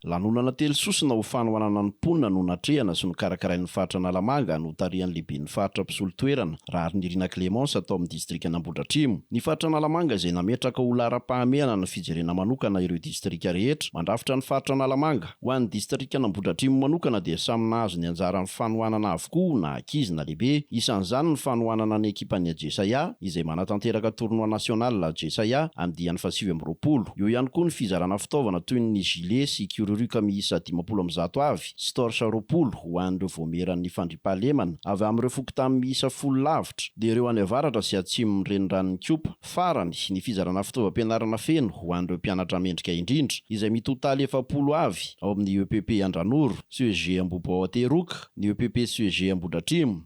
Lanonana telo sosona ho fanohanana ny mponina no natrehana sy nokarakarain'ny faritra Analamanga notarihan'ny lehiben'ny faritra mpisolo toerana, Raharinirina Clémence tao amin'ny distrikan'Ambohidratrimo. Ny faritra Analamanga izay nametraka ho laharam-pahamehana ny fijerena manokana ireo distrika rehetra mandrafitra ny faritra Analamanga, Ho an'ny distrikan'Ambohidratrimo manokana dia samy nahazo ny anjarany fanohanana avokoa na ankizy na lehibe. Isan'izany ny fanohanana ny ekipan'ny Ajesaia izay manatanteraka tournoi national Ajesaia amin'ny diany fahasivy amby roapolo. Eo ihany koa ny fizarana fitaovana toy ny gilet sy kiroruka miisa dimampolo amby zato avy sy torche roapolo ho an'ireo voamieran'ny fandriampahalemana avy amin'ireo fokontany miisa folo lavitra dia ireo any avaratra sy atsimon'ny reniranon'Ikopa. Farany, ny fizarana fitaovam-pianarana feno ho an'ireo mpianatra mendrika indrindra, izay mitotaly efapolo avy ao amin'ny EPP Andranoro, CEG Ambohipo ao Teroka, ny EPP CEG Ambohidratrimo,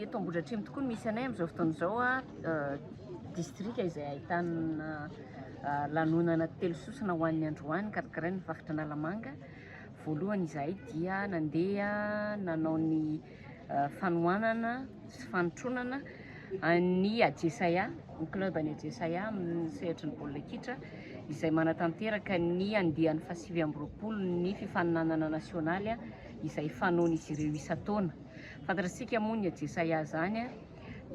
Eto Ambohidratrimo tokoa no misy anay amin'izao fotoana izao, distrika izay ahitana lanonana telo sosona ho an'ny androany karakarain'ny Faritra Analamanga. Voalohany izahay dia nandeha nanao ny. fanohanana sy fanotronana an'i Adjesaia, ny club an'i Adjesaia amin'ny sehatry ny baolina kitra izay manatanteraka ny andiany fahasivy amby roapolo ny fifaninanana nasionaly izay fanaon'izy ireo isan-taona. Fantatsika moa ny Adjesaia izany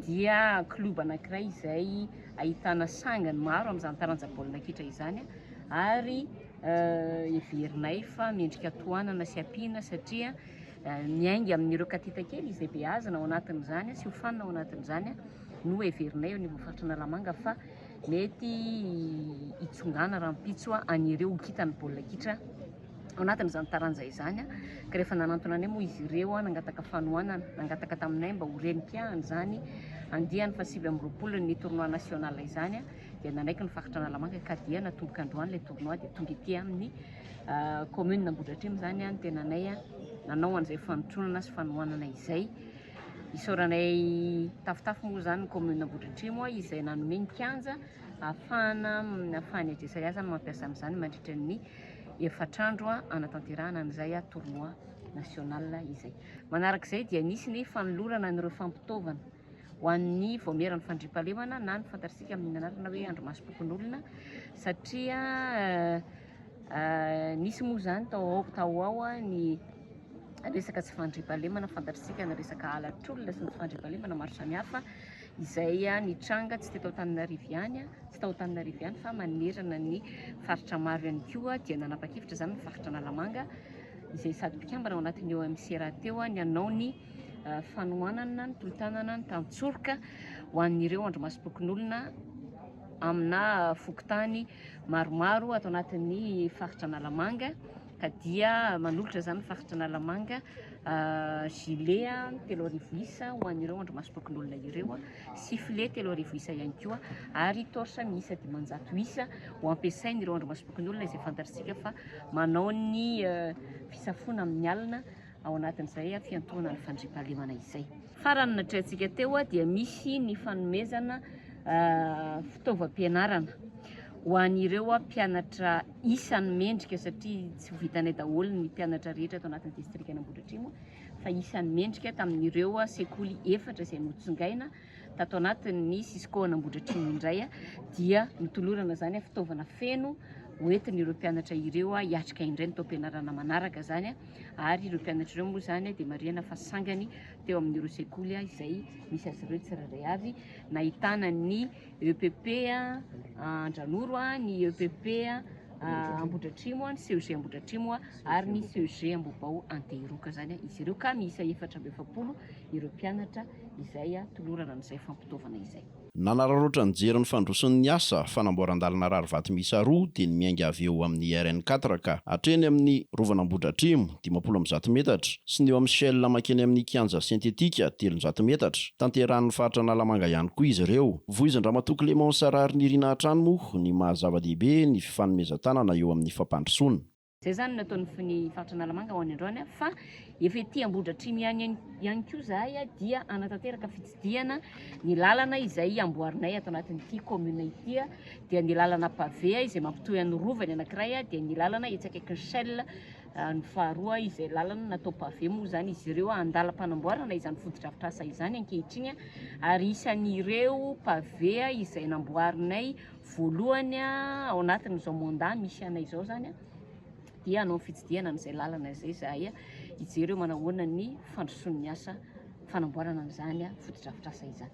dia club anankiray izay ahitana sangany maro amin'izany taranja baolina kitra izany ary heverinay fa mendrika tohanana sy ampiana satria Miainga amin'ireo katita kely izay beazina ao anatin'izany sy hofanina ao anatin'izany no heverinay eo anivon'ny faritry Analamanga fa mety hitsongana rahampitso an'ireo ho kintan'ny baolina kitra ao anatin'izany taranja izany ka rehefa nanantona anay moa izy ireo nangataka fanohanana, nangataka taminay mba ho renim-piahana izany andiany fahasivy amby roapolo ny tournoi national izany dia nanaiky ny faritra Analamanga ka dia natomboka androany ilay tournoi dia tonga ety amin'ny Kaominina Ambohidratrimo izany ny tenanay nanao an'izay fanotronana sy fanohanana izay. Isaoranay tafotafo moa izany ny kaominina Ambohidratrimo izay nanome ny kianja ahafahana ahafahan'ny AJSAS mampiasa amin'izany mandritra ny efatr'andro hanatanterahana an'izay tournoi national izay. Manarak'izay dia nisy ny fanolorana an'ireo fampitaovana ho an'ny vaomieran'ny fandriampahalemana na ny fantatsika amin'ny anarana hoe andro masom-pokonolona satria nisy moa izany tao ao tao ao ny resaka tsy fandriampahalemana fantatsika ny resaka halatr'olona sy ny tsy fandriampahalemana maro samihafa izay nitranga tsy teto Antananarivo ihany tsy tao Antananarivo ihany fa manerana ny faritra maro ihany koa dia nanapa-kevitra izany ny faritra Analamanga izay sady mpikambana ao anatin'ny OMC rahateo ny hanao ny fanohanana ny tolo-tanana ny tantsoroka ho an'ireo andrimasom-pokonolona amina fokontany maromaro ato anatin'ny faritra Analamanga ka dia manolotra izany faritra Analamanga gilet telo arivo isa ho an'ireo andrimasom-pokonolona ireo sifflet telo arivo isa ihany koa ary torche miisa dimanjato isa ho ampiasain'ireo andrimasom-pokonolona izay fantatr'isika fa manao ny fisafoana amin'ny alina ao anatin'izay fiantohana ny fandriampahalemana izay. Farany, natrehantsika teo, dia misy ny fanomezana fitaovam-pianarana ho an'ireo mpianatra isan'ny mendrika satria tsy ho vitanay daholo ny mpianatra rehetra ato anatin'ny distrikan'Ambohidratrimo fa isan'ny mendrika tamin'ireo sekoly efatra izay notsongaina tato anatin'ny Cisco an'Ambohidratrimo indray dia nitolorana izany fitaovana feno hoentin'ireo mpianatra ireo hiatrika indray ny taom-pianarana manaraka izany ary ireo mpianatra ireo moa izany dia marihana fa sangany teo amin'ireo sekoly izay misy azy ireo tsirairay avy nahitana ny EPP Andranoro, ny EPP Ambohidratrimo, ny CEG Ambohidratrimo ary ny CEG Ambohibao Antehiroka izany izy ireo ka miisa efatra amby efapolo ireo mpianatra izay tolorana amin'izay fampitaovana izay. Nanararaotra nijery ny fandroson' ny asa fanamboaran-dalana rarivato miisa roa dia ny miainga avy eo amin' ny RN quatre ka hatreny amin' ny Rovan' Ambohidratrimo, dimampolo amby zato metatra, sy ny eo amin' ny Shell mankeny amin' ny Kianja Sentetika, telonjato metatra. Tanterahin' ny faritra Analamanga ihany koa izy ireo. Vohizan-dRamatoa Clément Sararinirina hatrany moa ny maha-zava-dehibe ny fifanomezan-tanana eo amin' ny fampandrosoana. Izay izany no ataon'ny fony faritra Analamanga ho any androany fa efa ety Ambohidratrimo ihany ihany koa izahay dia hanatanteraka fitsidihana ny lalana izay amboarinay ato anatin'ity commune ity dia ny lalana pavé izay mampitohy an'ny rova ny anankiray dia ny lalana etsy akaikin'ny Shell ah, ny faharoa izay lalana natao pavé moa izany izy ireo andalam-panamboarana izany fotodrafitrasa izany ankehitriny ary isan'ireo pavé izay namboarinay Voalohany, ao anatin'izao mandat misy anay izao izany dia hanao ny fitsidihana amin'izay lalana izay izahay hijery hoe manao ahoana ny fandrosoan'ny asa fanamboarana an'izany fotodrafitrasa izany.